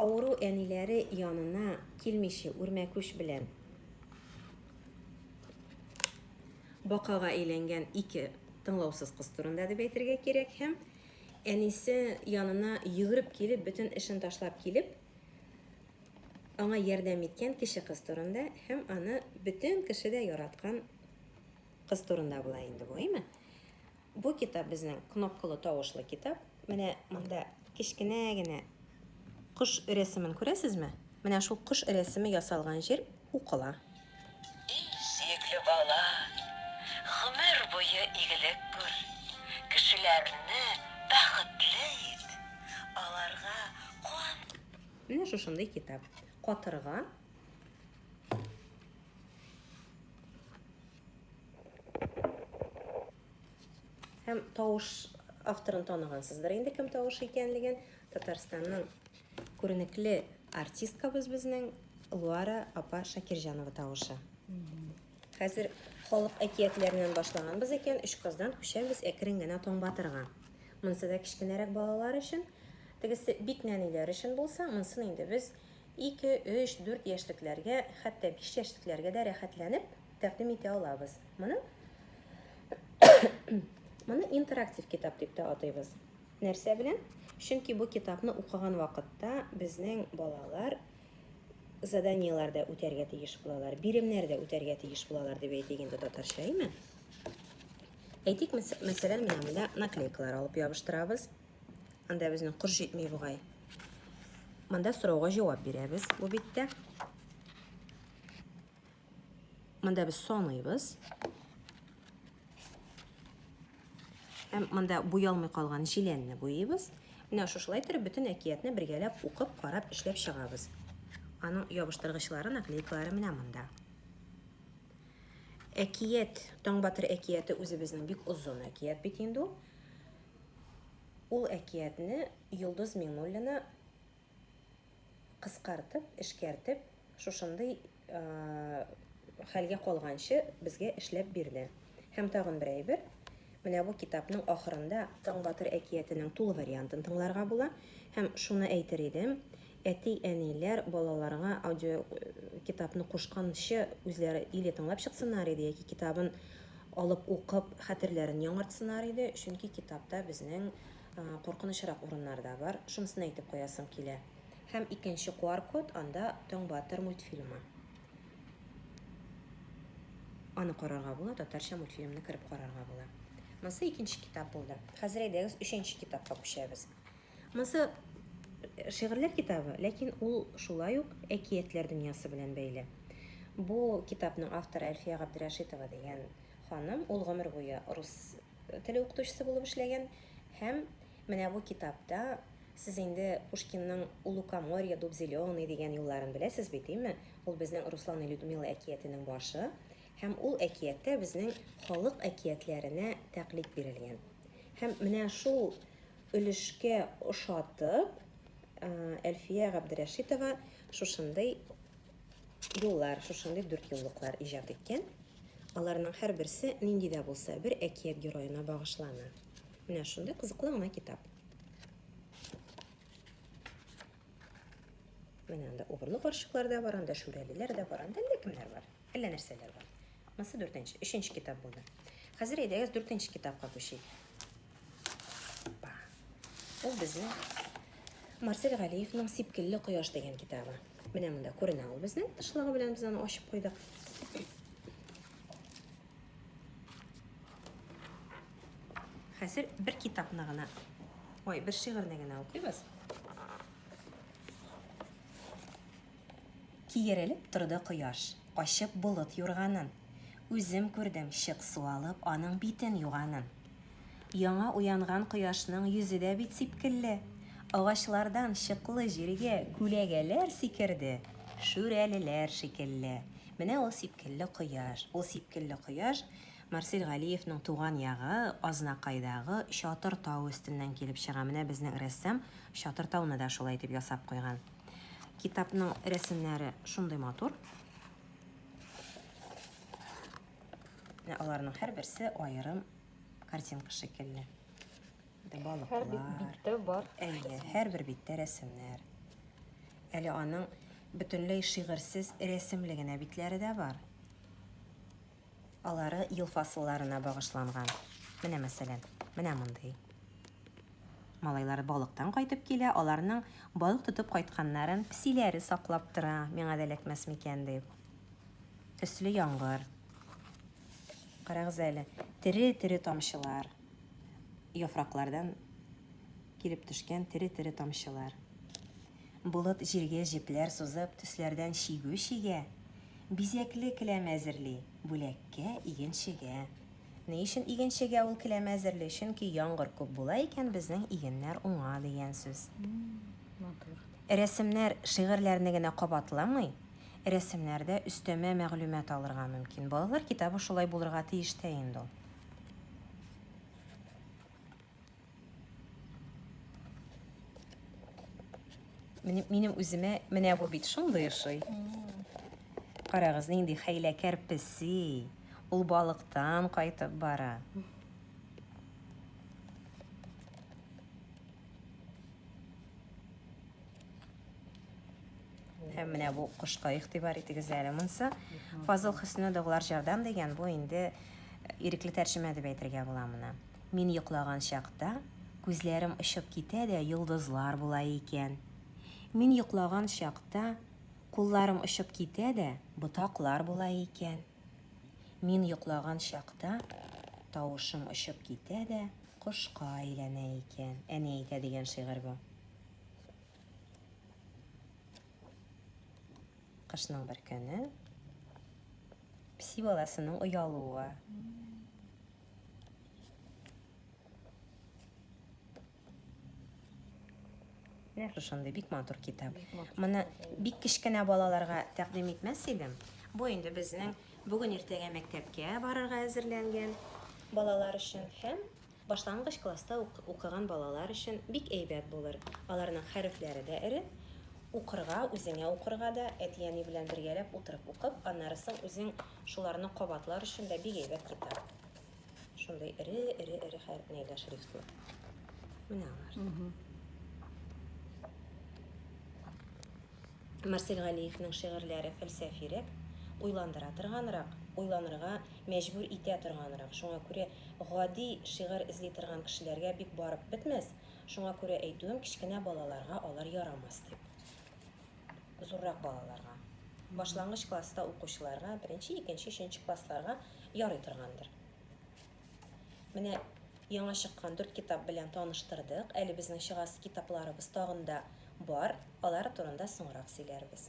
Авыру әниләре янына килмиче үрмәкүч белән бакага әйләнгән ике тыңлаусыз кыз турында дип әйтергә кирәк һәм әнисе янына йөгереп килеп, бөтен эшен ташлап килеп, аңа ярдәм иткән кеше кыз турында һәм аны бөтен кеше дә яраткан кыз турында була инде бу, әйме? Бу китап безнең кнопкалы тавышлы китап. Менә монда кечкенә генә кош рәсемен күрәсезме? Менә шул кош рәсеме ясалган җир укыла. Эй, сөекле бала, гомер буе игелек күр, кешеләрне бәхетле ит, аларга куан. Менә шушындый китап. Катырга. Һәм тавыш авторын танығансыздыр инде кем тавышы икәнлеген. Татарстанның күренекле артисткабыз безнең Луара апа Шакирҗанова тавышы. Хәзер халык әкиятләреннән башлаганбыз икән, өч кыздан күчәбез әкрен генә Таңбатырга. Монысы да кечкенәрәк балалар өчен, тегесе бик нәниләр өчен булса, монсын инде без 2, 3, 4 яшьлекләргә, хәтта 5 яшьлекләргә дә рәхәтләнеп тәкъдим итә алабыз. Моны Моны интерактив китап дип тә атыйбыз. Нәрсә белән? Чөнки бу китапны укыган вакытта безнең балалар заданиеләр дә үтәргә тиеш булалар, биремнәр дә үтәргә тиеш булалар дип әйтик инде татарча, әйме? Әйтик, мәсәлән, менә монда наклейкалар алып ябыштырабыз. Анда безнең кор җитми бугай. Монда сорауга җавап бирәбез бу биттә. Монда без саныйбыз. Һәм монда буялмый калган җиләнне буйыйбыз. Менә шушылай торып бөтен әкиятне бергәләп укып, карап, эшләп чыгабыз. Аның ябыштыргычлары, наклейкалары менә монда. Әкият, Таңбатыр әкияте үзебезнең бик озын әкият бит инде ул. Ул әкиятне Йолдыз Миңнуллина кыскартып, эшкәртеп, шушындый хәлгә калганчы безгә эшләп бирде. Һәм тагын бер әйбер, менә бу китапның ахырында Таң батыр әкиятенең тулы вариантын тыңларга була. Һәм шуны әйтер идем, әти-әниләр балаларга аудио китапны кушканчы үзләре или тыңлап чыксыннар иде, яки китабын алып укып хәтерләрен яңартсыннар иде, чөнки китапта безнең Коркынычрак урыннар да бар, шунысын әйтеп куясым килә. Һәм икенче куар код, анда Таң батыр мультфильмы. Аны карарга була, татарча мультфильмны кереп карарга була. Монсы икенче китап булды. Хәзер әйдәгез өченче китапка күчәбез. Монсы шигырьләр китабы, ләкин ул шулай ук әкиятләр дөньясы белән бәйле. Бу китапның авторы Әлфия Габдрәшитова дигән ханым, ул гомер буе рус теле укытучысы булып эшләгән һәм менә бу китапта сез инде Пушкинның У лукоморья дуб зеленый дигән юлларын беләсез бит, дими? Ул безнең Руслан и Людмила әкиятенең башы һәм ул әкияттә безнең халык әкиятләренә тәкълид бирелгән. Һәм менә шул өлешкә ошатып, Әлфия Габдрәшитова шушындый Юллар, шушындый дүрт юллыклар иҗат иткән. Аларның һәрберсе нинди дә булса бер әкият героена багышлана. Менә шундый кызыклы гына китап. Менә анда угырлы карчыклар да бар, анда шүрәлеләр дә бар, анда әллә кемнәр бар, әллә нәрсәләр бар. Монысы дүртенче, өченче китап булды. Хәзер әйдәгез дүртенче китапка күчик. Ул безнең Марсель Галиевның Сипкелле кояш дигән китабы. Менә монда күренә ул безнең тышлыгы белән без аны ачып куйдык. Хәзер бер китапны гына, ой, бер шигырьне генә укыйбыз. Киерелеп торды кояш, ачып болыт юрганын. Үзем күрдем, чык су алып, аның битен юганын. Яңа уянган кояшның йөзе дә бит сипкелле. Агачлардан чыклы җиргә күләгәләр сикерде, шүрәлеләр шикелле. Менә ул сипкелле кояш. Ул сипкелле кояш Марсель Галиевның туган ягы Азнакайдагы Чатыр тау өстеннән килеп чыга. Менә безнең рәссам Чатыр тауны да шулай итеп ясап куйган. Китапның рәсемнәре шундый матур. Аларның һәр берсе аерым картинка шикелле. Балыклар. Һәр биттә бар. Әйе, һәр бер биттә рәсемнәр. Әле аның бөтенләй шигырьсез рәсемле генә битләре дә бар. Алары ел фасылларына багышланган. Менә мәсәлән, менә мондый. Малайлары балыктан кайтып килә, аларның балык тотып кайтканнарын псиләре саклап тора, миңа да эләкмәс микән дип. Төсле яңгыр. Карагыз әле, тере-тере тамчылар. Яфраклардан килеп төшкән тере-тере тамчылар. Болыт җиргә җепләр сузып, төсләрдән чигү чигә, Бизәкле келәм әзерли, бүләккә, игенчегә. Ни өчен игенчегә ул келәм әзерли? Чөнки яңгыр күп була икән, безнең игеннәр уңа, дигән сүз. Рәсемнәр шигырьләрне генә кабатламый, рәсемнәрдә өстәмә мәгълүмат алырга мөмкин. Балалар китабы шулай булырга тиеш тә инде ул. Минем, минем үземә менә бу бит шундый ошый. Карагыз, нинди хәйләкәр песи. Ул балыктан кайтып бара. Һәм менә бу кошка игътибар итегез әле монса. Фазыл Хөснүдовлар жардам дигән бу инде ирекле тәрҗемә дип әйтергә була моны. Мин йоклаган чакта, күзләрем очып китә дә йолдызлар була икән. Мин йоклаган чакта, кулларым очып китә дә ботаклар була икән. Мин йоклаган чакта, тавышым очып китә дә кошка әйләнә икән. Әни әйтә дигән шигырь бу. Кышның бер көне пси баласының оялуы. Менә шушындый бик матур китап. Моны бик кечкенә балаларга тәкъдим итмәс идем. Бу инде безнең бүген иртәгә мәктәпкә барырга әзерләнгән балалар өчен һәм башлангыч класста укыган балалар өчен бик әйбәт булыр. Аларның хәрефләре дә эре. Укырга, үзеңә укырга да әти-әни белән бергәләп утырып укып, аннары соң үзең Шуларны кабатлар өчен дә бик әйбәт китап. Шундый эре, эре, эре хәр нәйләр шрифтлы. Менә алар. Марсель Галиевның шигырьләре фәлсәфирәк, уйландыра торганрак, уйланырга мәҗбүр итә торганрак. Шуңа күрә гади шигырь эзли торган кешеләргә бик барып бетмәс, шуңа күрә әйтүем, кечкенә балаларга алар ярамас дип. зуррак балаларга, башлангыч класста укучыларга, беренче, икенче, өченче классларга ярый торгандыр. Менә яңа чыккан дүрт китап белән таныштырдык. Әле безнең чыгасы китапларыбыз тагын да бар. Алар турында соңрак сөйләрбез.